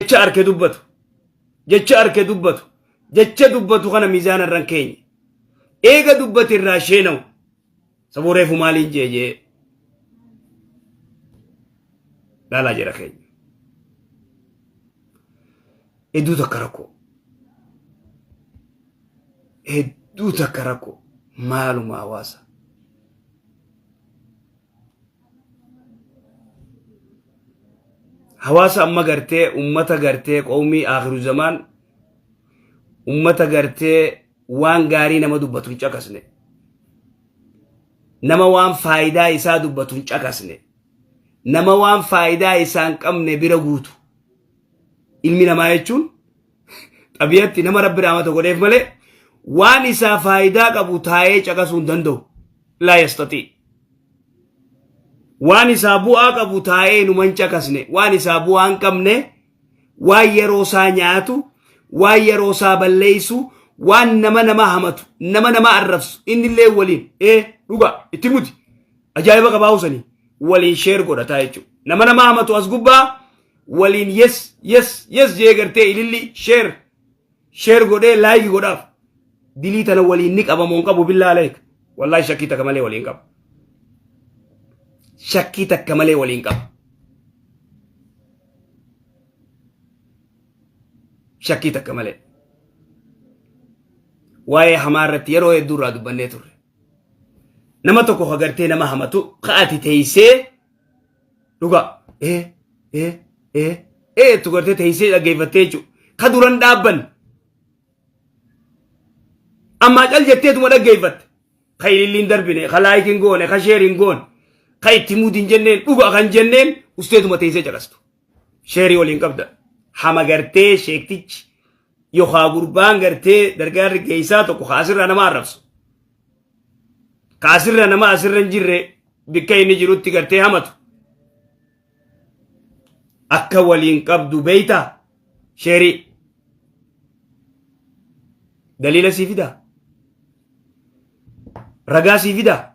jecha arke dubbatu jecha arke dubbatu jecha dubbatu kana miizaana irran keenya eega dubbati irraa sheenawu sabuu reefu maaliin jee jee laalaa jedha keenya hedduu takka rakkoo hedduu takka rakkoo maaluma hawaasa hawaasa amma gartee ummata gartee qawmii akhiru zamaan ummata gartee waan gaarii nama dubbatu hin caqasne nama waan faayidaa isaa dubbatu hin caqasne nama waan faayidaa isaan qabne bira guutu ilmi namaa jechuun xabiyatti nama rabbi rahmata godheef malee waan isaa faayidaa qabu taa'ee caqasuu hin danda'u laa yastaxii waan isaa bu'aa qabu taa'ee numa hin caqasne waan isaa bu'aa hin qabne waan yeroo isaa nyaatu waan yeroo isaa balleessu waan nama nama hamatu nama nama arrabsu innillee waliin ee dhuga itti muti ajaa'iba qabaa usanii waliin sheer godhataa jechuudha nama nama hamatu as gubbaa waliin yes yes yes jee gartee ililli share share godhee like godhaaf dilii tana waliin ni qaba moon qabu billaa aleek wallahi shakkii takka malee waliin qaba shakkii takka malee waliin qaba shakkii takka malee waa'ee hamaa irratti yeroo hedduu irraa dubbannee turre nama tokko hagartee nama hamatu ka'ati teeysee dhugaa ee ee ee ee tu gartee teessee dhaggeeffattee jechuudha ka duran dhaabbanne ammaa cal jetteetuma dhaggeeffatte ka ililliin darbine ka laayikiin goone ka sheeriin goone ka itti muudin jenneen dhuga kan jenneen usteetuma teessee caqastu sheerii waliin qabda hama gartee sheektichi yookaan gurbaan gartee dargaarri geessaa tokko kaasirra nama arrabsu. Kaasirra nama asirra hin jirre bikka inni jirutti gartee hamatu. Akka waliin qabdu beeyta sheerii. Daliila sii fidaa. Ragaa sii fidaa.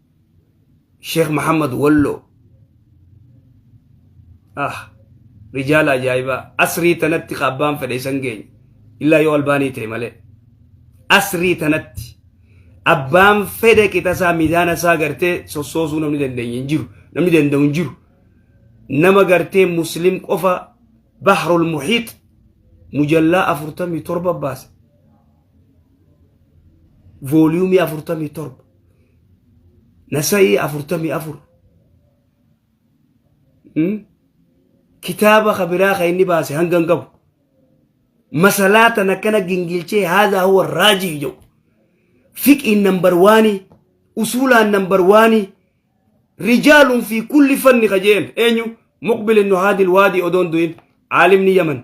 Sheekh Muhammad Walloo. Ah, rijaala ajaa'ibaa. Asrii tanatti ka abbaan fedhe isan geenye. Illaa yoo albaanii ta'e malee. Asrii tanatti abbaan fedhe qixasaa miizaana isaa gartee sossoosuu namni dandeenye hin jiru. Namni danda'u hin jiru. Nama gartee muslim qofa bahrul muhiit mujallaa afurtamii torba baase. Vooliyuumii afurtamii torba. nasa'ii afurtamii afur kitaaba kabiraa ka inni baase hanga hin qabu masalaa tan akkana gingilchee haadha huwa raajii jedhu fiqiin nambar waanii usuulaan nambar waanii rijaalun fi kulli fanni ka jeen eenyu muqbil ibnu haadil waadii odoon du'in aalimni yaman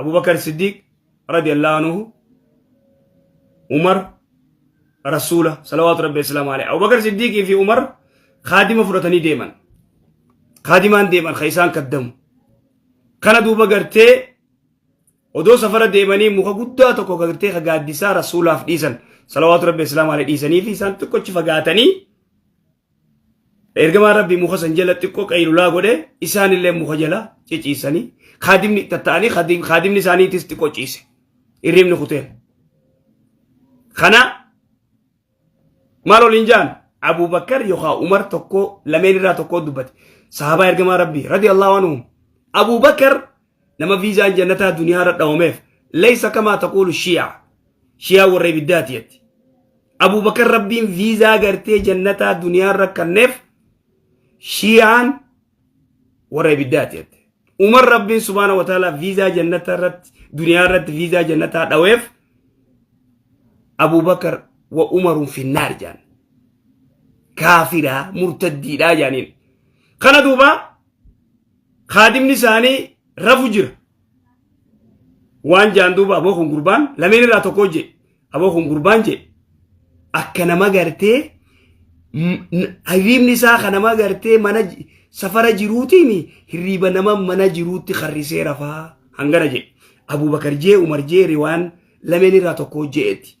abubakar siddiiq radiyallahu anhu umar rasuula salawaatu rabbi islaam alee abubakar siddiiqii fi umar kaadima fudhatanii deeman kaadimaan deeman ka isaan kaddamu kana duuba gartee odoo safara deemanii muka guddaa tokko gartee ka gaaddisaa rasuulaaf dhiisan salawaatu rabbi islaam alee dhiisanii fi isaan xiqqochi fagaatanii Ergamaan Rabbii muka san jala xiqqoo qaylulaa godhe isaan illee muka jala ciciisanii kaadimni itti ta'anii kaadimni isaaniitis xiqqoo ciise hirribni kuteen. Kana maal oliin jaan Abuubakar yookaan Umar tokko lameen irraa tokko dubbate sahabaa ergamaa Rabbii radiyallahu anhum Abuubakar nama viizaan jannataa duniyaa irra dhawameef leeysa kamaa taquulu shii'a shii'a warra ibiddaati jetti abubakar rabbiin viizaa gartee jannataa duniyaa irra kanneef shii'aan warra ibiddaati jetti umar rabbiin subhaana wataalaa viizaa jannataa irratti duniyaa irratti viizaa jannataa dhaweef abubakar wa umarun finnaar jaan kaafiraa murtaddiidhaa jaaniin kana duubaa kaadimni isaanii rafu jira. Waan jaan duuba aboo kun gurbaan lameen irraa tokkoo jee aboo kun gurbaan jee akka nama gartee hirriibni isaa kan nama gartee mana safara jiruutiin hirriiba nama mana jiruutti harrisee rafaa hangana jee Abubakar jee Umar jee riwaan lameen irraa tokkoo jeetti.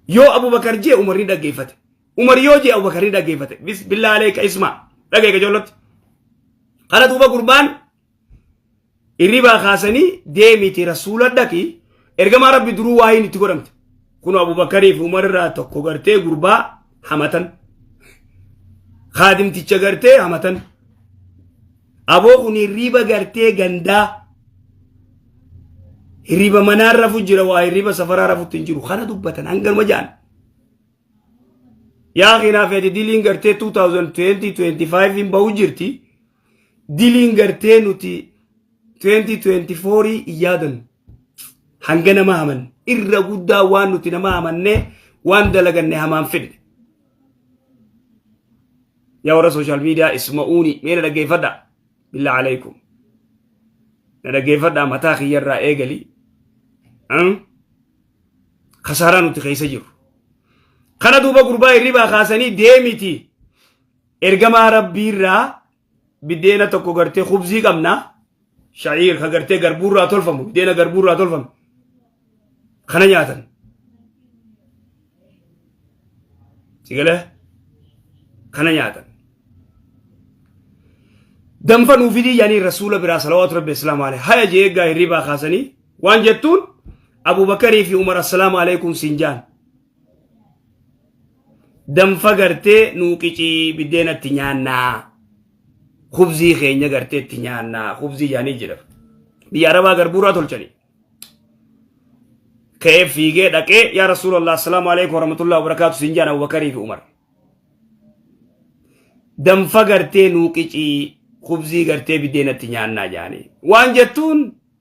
Yoo Abubakar jee Umar ni dhaggeeffate. Umar yoo jee Abubakar ni dhaggeeffate. Bismillah aleeka isma. Dhagee gajoollatti. Kana duuba gurbaan irribaa kaasanii deemiti rasuula dhaqi ergamaa rabbi duruu waa hin itti godhamte. Kun Abubakarii fi Umar irraa tokko gartee gurbaa hamatan. Kaadimticha gartee hamatan. Aboo kun hirriba gartee gandaa. Hirriba manaa rafu jira waa hirriba safaraa rafutti hin jiru. Kana dubbatan hanganuma jaan. yaa keenaa feeti diliin gartee 2020-25 hin bahu jirti diliin gartee nuti 2024 hin yaadan hanga nama haman irra guddaa waan nuti nama hamanne waan dalaganne hamaan fidne yaa warra sooshaal miidiyaa isma'uuni mee na dhaggeeffadha billaa alaikum na dhaggeeffadha mataa kiyyarraa eegali kasaaraa nuti keessa jiru kana duuba gurbaa hirribaa kaasanii deemiti ergamaa rabbiirraa biddeena tokko gartee kubzii qabna sha'iir ka gartee garbuurraa tolfamu biddeena garbuurraa tolfamu kana nyaatan sigale kana nyaatan danfa nuufidii yaanii rasuula biraa salawaatu rabbi islaamu alee haya jee eeggaa hirribaa kaasanii Waan jettuun Abubakarii fi Umar assalaamu alaikum siin jaan. Danfa gartee nuu qicii biddeen itti nyaannaa. Kubzii keenya gartee itti nyaannaa. Kubzii jaanii jedhama. Biyya Arabaa garbuuraa tolchanii. Ka'ee fiigee dhaqee yaa Rasuulallah assalaamu alaikum warahmatullahi wabarakaatu siin jaan Abubakarii fi Umar. Danfa gartee nuu qicii kubzii gartee biddeen itti nyaannaa jaanii. Waan jettuun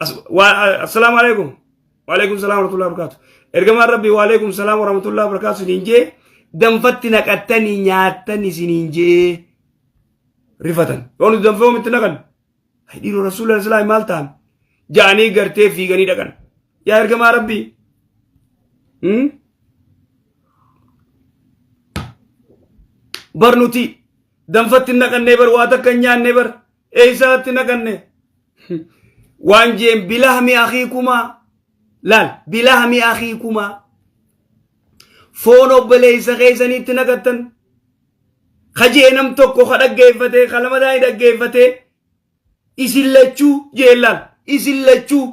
Assalaamu alaikum. Waalaikum salaam warahmatullahi wabarakatuh. Ergamaan Rabbii waalaikum salaam warahmatullahi wabarakatuh isiniin jee danfatti naqattanii nyaattan isiniin jee rifatan. Yoo nuti danfee omitti naqan dhiiroo rasuula islaami maal ta'an ja'anii gartee fiiganii dhaqan. Yaa ergamaa Rabbii. Bar nuti danfatti naqannee bar waa takka nyaannee bar. Eessaatti naqanne? Waan jeen bilahmi akii kumaa. Laal bilahmi akii kumaa. Foon obboleessa keessaniitti naqattan. Ka jee nam tokko ka dhaggeeffatee ka lamadaa hin dhaggeeffatee isin lachuu jeen laal isin lachuu.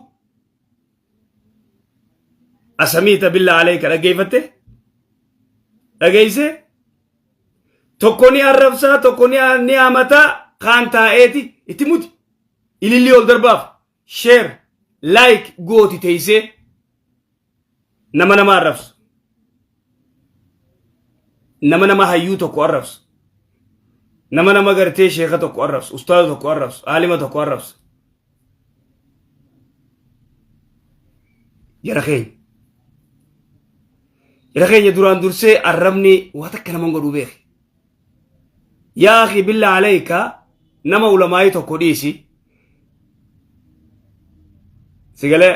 Asamiita billaa alee ka dhaggeeffatte? Dhageessee? Tokko ni arrabsaa, tokko ni ni hamataa, kaan taa'eeti itti muti. Ilillii ol darbaaf sheer laayik gooti teessee nama nama arrabsu. Nama nama hayyuu tokko arrabsu. Nama nama gartee sheeka tokko arrabsu, ustaaza tokko arrabsu, aalima tokko arrabsu. Jara keenya. Jara keenya duraan dursee arrabni waa takka nama hin godhu beeki. Yaa akhi billa alayka nama ulamaa'ii tokko dhiisi. Sigalee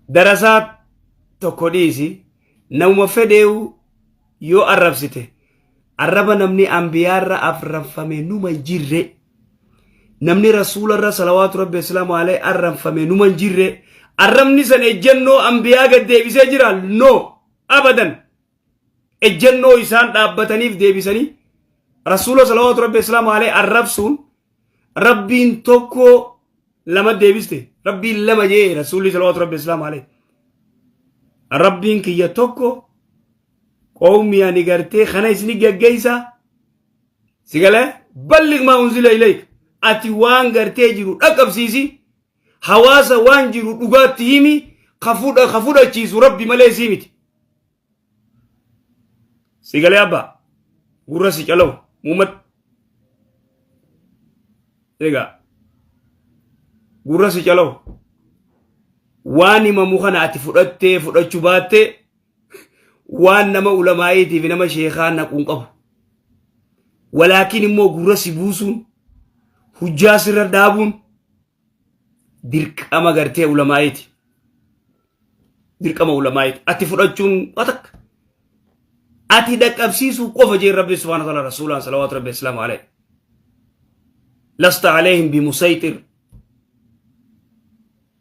darasaa tokko dhiisi namuma fedheewu yoo arrabsite arraba namni ambiyaarra arrabfame numa hin jirre. namni rasuula irra salawaatu rabbi islaamu alee arranfame numa hin jirre arrabni san ejjennoo ambiyaa gad deebisee jira no abadan ejjennoo isaan dhaabbataniif deebisanii rasuula salawaatu rabbi islaamu alee arrabsuun rabbiin tokko lama deebiste rabbiin lama jee rasuulli salawaatu rabbi islaamu alee rabbiin kiyya tokko qawmi ani gartee kana isni gaggeeysaa si galee ballig maa unzila ilayk ati waan gartee jiru dhaqqabsiisi hawaasa waan jiru dhugaatti himi ka fudha ka fudhachiisu rabbi malee sii miti si galee abba gurra si calawu muummat egaa gurra si calawu waan himamu kana ati fudhattee fudhachuu baattee waan nama ulamaa'iitiif nama sheekaa naquun qabu walaakin immoo gurra si buusuun hujjaa sirra dhaabuun dirqama gartee ulamaa'iiti dirqama ulamaa'iiti ati fudhachuun waa takka ati dhaqqabsiisuu qofa jeen rabbi subhaana taala rasuulaan salawaatu rabbi islaamu alayhi lasta alayhim bimusayxir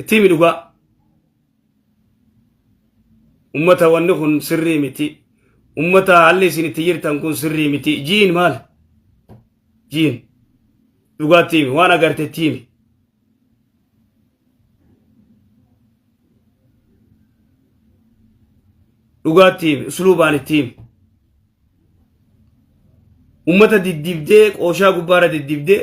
itti himi dhugaa ummata wanni kun sirrii miti ummata haalli isin itti jirtan kun sirrii miti jiin maal jiin dhugaatti himi waan agartetti himi dhugaatti himi usluubaan itti himi ummata diddibdee qooshaa gubbaarra diddibdee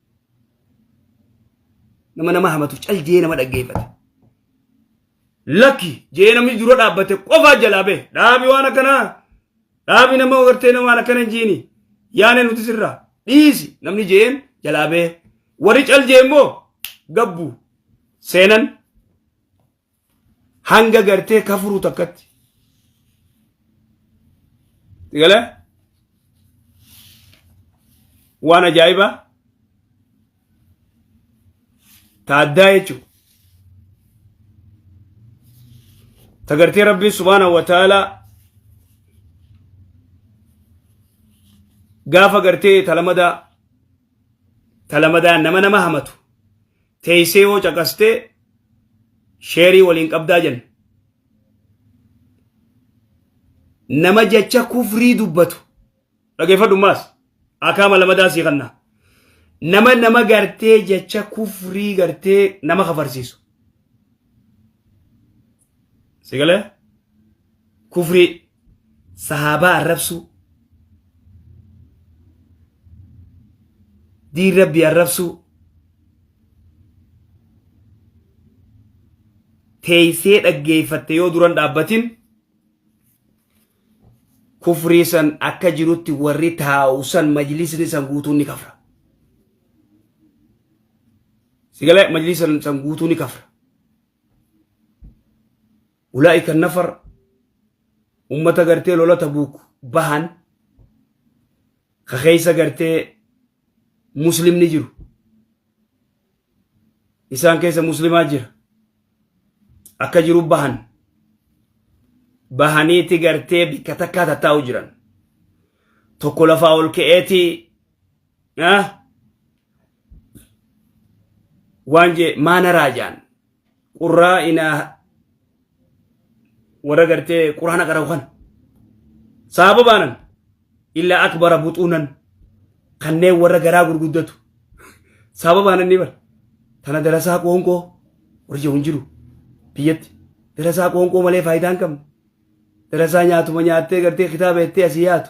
nama nama hamatuuf cal jee nama dhaggeeffata. Lakki jee namni dura dhaabbate qofaa jalaa bee dhaabi waan akkanaa dhaabi nama agartee nama waan akkana hin jiini yaane nuti sirraa dhiisi namni jeen jalaa bee warri cal jee immoo gabbu seenan hanga gartee kafuru takkatti gala waan ajaa'ibaa taaddaa jechuun tagartee rabbiin subhaanahu wa ta'aalaa gaafa gartee talamadaa talamadaa nama nama hamatu teessee yoo caqastee sheerii waliin qabdaa jenna. Nama jecha kufrii dubbatu dhageeffadhu maas akaama lamadaa sii kanna. Nama nama gartee jecha kufrii gartee nama kafarsiisu. sigale kufri sahaabaa arrabsuu diin rabbii arrabsuu teeysee dhaggeeyfatte yoo duran dhaabbatin kufrii san akka jirutti warri taa'u san majlisni san guutuun ni kafra sigale majlisni san guutuu ni kafra ulaa'ika nafar ummata gartee lola tabuuk bahan ka keessa gartee muslimni jiru isaan keessa muslimaa jira akka jiru bahan bahaniiti gartee bikka takkaa tattaa'u jiran tokko lafaa ol ka'eeti waan jee maana raajaan qurraa inaa warra gartee quraana qara'u kana sababaanan illaa akbara buxuunan kanneen warra garaa gurguddatu sababaanan ni bara tana darasaa qoonqoo warri jedhu hin jiru biyyatti darasaa qoonqoo malee faayidaa hin qabne darasaa nyaatuma nyaattee gartee kitaaba jettee asii yaatu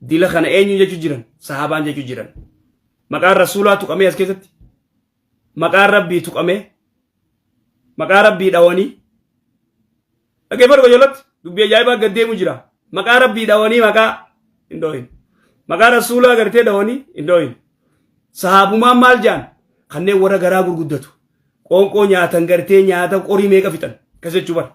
Dila kana eenyu jechu jiran? Sahaabaan jechu jiran. Maqaan Rasuulaa tuqamee as keessatti? Maqaan Rabbii tuqamee? Maqaa Rabbii dhawanii? Dhaggeeffadhu qajeelatti dubbii ajaa'ibaa gad deemu jira. Maqaa Rabbii dhawanii maqaa hin dhoohin. Maqaa Rasuulaa gartee dhawanii hin dhoohin. Sahaabumaan maal jaan? Kanneen warra garaa gurguddatu. Qoonqoo nyaatan gartee nyaata qorii meeqa fixan? Kas jechuu bara.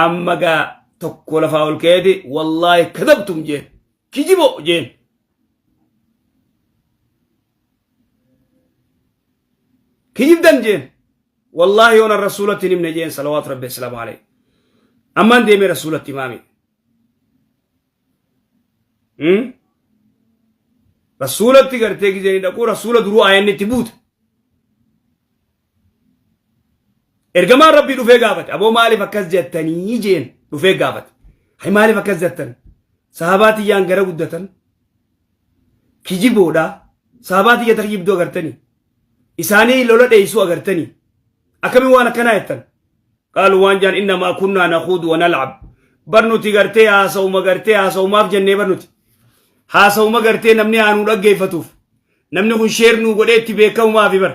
amma gaa tokko lafaa ol ka'eeti wallaahi kadabtum jeen kijibo jeen kijibdan jeen wallaahi yoona rasuulatti hin himne jeen salawaatu rabbi assalaamu aleyh ammaan deemee rasuulatti himaami rasuulatti gartee gizee ni dhaquu rasuula duruu aayanni itti buute Ergamaan Rabbii dhufee gaafate. Aboo maaliif akkas jettanii jeen dhufee gaafate. Hay maaliif akkas jettan? Sahabaa tiyyaan gara guddatan. Kijiboodha. Sahabaa tiyya takka jibduu agartanii. Isaanii lola dheessuu agartanii. Akkamiin waan akkanaa jettan? Qaalu waan jaan innamaa kunnaa naquudu wa nal'ab. Barnuti gartee haasa'uma gartee haasa'umaaf jennee barnuti. Haasa'uma gartee namni aanuu dhaggeeffatuuf. Namni kun sheer nuu godhee itti beekamumaaf bar.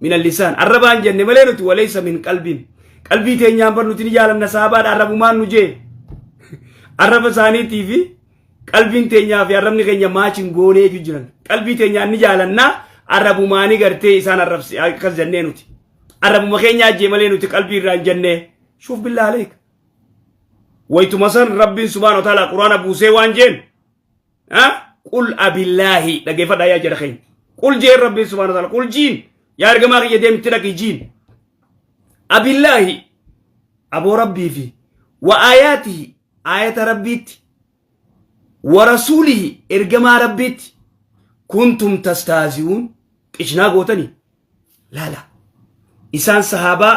min allisaan arrabaan jenne malee nuti waleessa min qalbiin qalbii teenyaan bar nuti ni jaalanna saabaadha arrabumaan nu jee arraba isaaniitii fi qalbiin teenyaa fi arrabni keenya maachiin goonee iyyuu jiran qalbii teenyaan ni jaalannaa arrabumaanii gartee isaan arrabsi akkas jennee nuti arrabuma keenya ajjee malee nuti qalbii irraan jennee shuuf billaa aleek waytuma san rabbiin subhaana wa ta'ala quraana buusee waan jeen Qul abillaahi dhageeffadhaa yaa jara keenya. Qul jeen rabbiin subhaana taala qul jiin yaa ergamaa kiyya deemti dhaqi jiin. Abillaahi aboo rabbii fi wa aayaatihi aayata rabbiitti wa rasuulihi ergamaa rabbiitti kuntum tastaazi'uun qishnaa gootanii laala. Isaan sahaabaa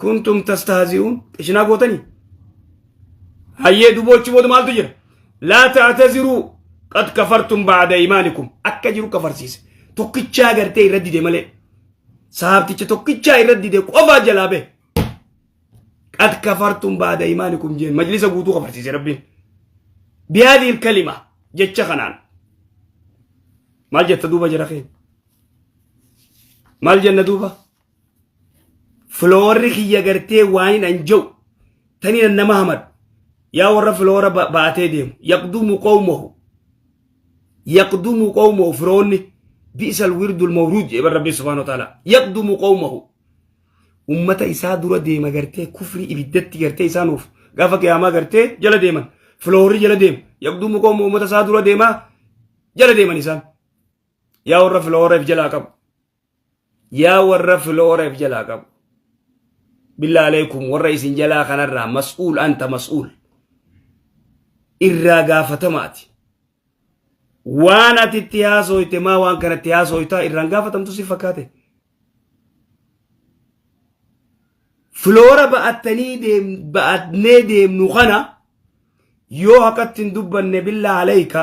kuntum tastahzi'uun qishinaa gootanii hayyee duboochi booda maaltu jira laa ta'taziruu qad kafartum ba'da imaanikum akka jiru kafarsiise tokkichaa gartee irra dide malee sahaabticha tokkichaa irra dide qofaa jalaa bee qad kafartum ba'da imaanikum jeen majlisa guutuu kafarsiise rabbiin bihaadii kalima jecha kanaan maal jetta duuba jara keenya maal jenna duuba filoorri kiyya gartee waa hin anja'u tani nan nama hamadu yaa warra filoora ba- baatee deemu yaqdumu qawmahu yaqdumu qawmahu firoonni bi'sal wirdul mawruud jedhe rabbi subhaana wa ta'ala yaqdumu qawmahu ummata isaa dura deema gartee kufrii ibiddatti gartee isaa nuuf gaafa qiyaamaa gartee jala deeman filoorri jala deema yaqdumu qawmahu ummata isaa dura deemaa jala deeman isaan yaa warra filooreef jalaa qabu yaa warra filoora if jalaa qabu billaa aleekum warra isin jalaa kanarraa mas'uul anta mas'uul irraa gaafatamaati waan ati itti haasoyte maa waan kana itti haasoytaa irraan gaafatamtu si fakkaate filoora ba'attanii deem ba'atnee deemnu kana yoo haqatti hin dubbanne billaa aleeyka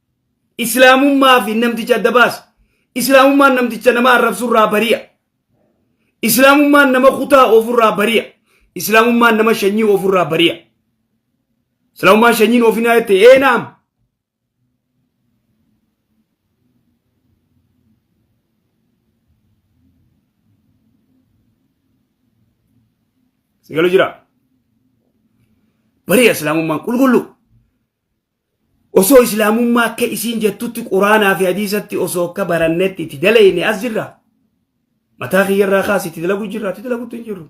Islaamummaa fi namticha adda baasi. Islaamummaan namticha nama arrabsurraa bari'a. Islaamummaan nama kutaa ofirraa bari'a. Islaamummaan nama shanyii ofirraa bari'a. Islaamummaan shanyiin ofinaa jette ee naam. Sigalu jira. Bari'a Islaamummaan qulqulluu. Osoo islaamummaa akka isiin jettutti quraanaa fi hadiisatti osoo akka barannetti itti dalayne as jirra. Mataa kiyyarraa kaas itti dalagu jirra itti dalaguttu hin jirru.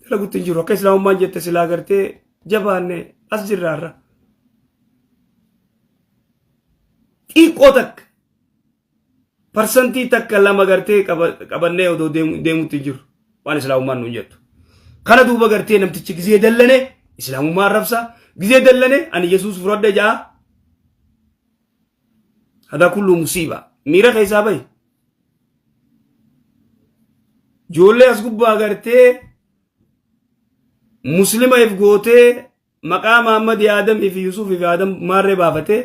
Dalaguttu hin jirru akka islaamummaan jette silaa gartee jabaanne as jirra irra. Xiqqoo takka parsantii takka lama gartee qabannee odoo deemutti hin jiru waan islaamummaan nuun jettu. Kana duuba gartee namtichi gizee dallane islaamummaa arrabsa gizee dallane ani yesuus fudhadhe ja'a. Hadaa kulluu musiiba miira keessaa bahi. Ijoollee as gubbaa gartee muslima if gootee maqaa Maammad Aadam fi Yusuuf fi Aadam maarree baafatee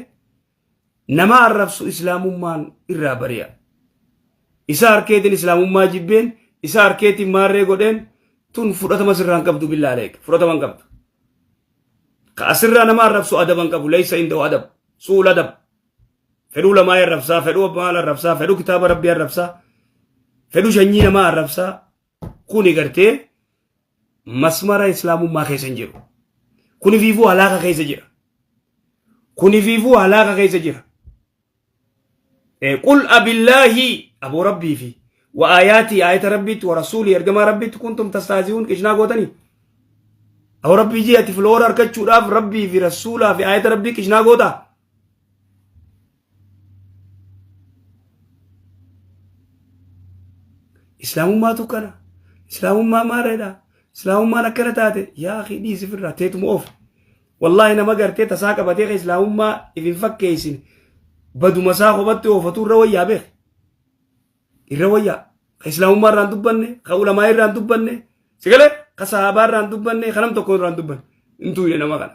Nama arrabsu islaamummaan irraa bari'a. Isa harkeetiin islaamummaa jibbeen, isa harkeetiin maarree godheen tun fudhatama sirraan qabdu billaa aleek. Fudhatama hin qabdu. Ka asirraa nama arrabsu adaba hin qabu. Leeysa inda'u adab. Su'ul adab. Fedhuu lamaa arrabsaa, fedhuu abbaa arrabsaa, fedhuu kitaaba rabbii arrabsaa, fedhuu shanyii namaa arrabsaa, Kuni gartee masmara islaamummaa keessa hin jiru. Kuni fiifuu halaaka keessa jira. Kuni fiifuu halaaka keessa jira. Qul abillaahi aboo rabbii fi wa aayaatii aayata rabbiitti wa rasuulii ergamaa rabbiitti kuntum tastaazi'uun qishnaa gootanii. Aboo rabbii jee ati filoora argachuudhaaf rabbii fi rasuulaa fi aayata rabbii qishnaa gootaa. islaamummaatu kana islaamummaa maareedha islaamummaan akkana taate yaa akhi dhiisi firraa teetuma of wallaahi nama gartee tasaa qabatee ka islaamummaa if hin fakkeessin baduma isaa kophaatti oofatu irra wayyaa beek irra wayyaa ka islaamummaa irraan dubbanne ka ulamaa irraan dubbanne sigalee ka sahaabaa irraan dubbanne ka nam tokko irraan dubbanne hin tuuyne nama kana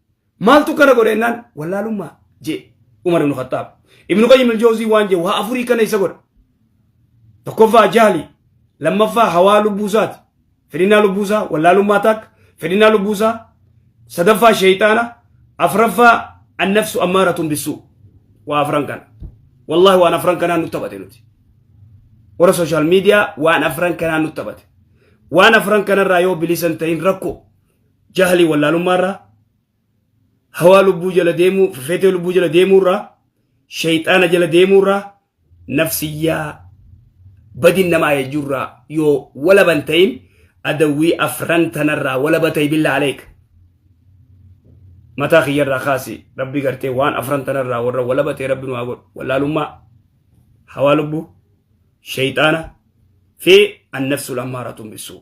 Maaltu kana godhe jennaan wallaalummaa jee Umar ibn Khattaab. Ibn Qayyim al-Jawzii waan jee waa afurii kana isa godha. Tokkoffaa jaali, lammaffaa hawaa lubbuusaati. Fedhinnaa lubbuusaa wallaalummaa taak, fedhinnaa lubbuusaa sadaffaa sheeyxaana, afraffaa annafsu ammaaratun bissuu. Waa afran kana. Wallaahi waan afran kanaa nutti taphate nuti. Warra sooshaal miidiyaa waan afran kanaa nutti taphate. Waan afran kanarraa yoo bilisan ta'in rakkoo. jahlii wallaalummaa irraa hawaa lubbuu jala deemuu fefeetee lubbuu jala deemuu irraa shayxaana jala deemuu irraa nafsiyyaa badin nama ayajuu irraa yoo walaban ta'in adawwii afran tanarraa walaba ta'e billaa aleek mataa kiyyarraa kaasi rabbi gartee waan afran tanarraa warra walaba ta'e rabbi nu haa godhu wallaalummaa hawaa lubbuu shayxaana fi annafsul ammaaratu bisuu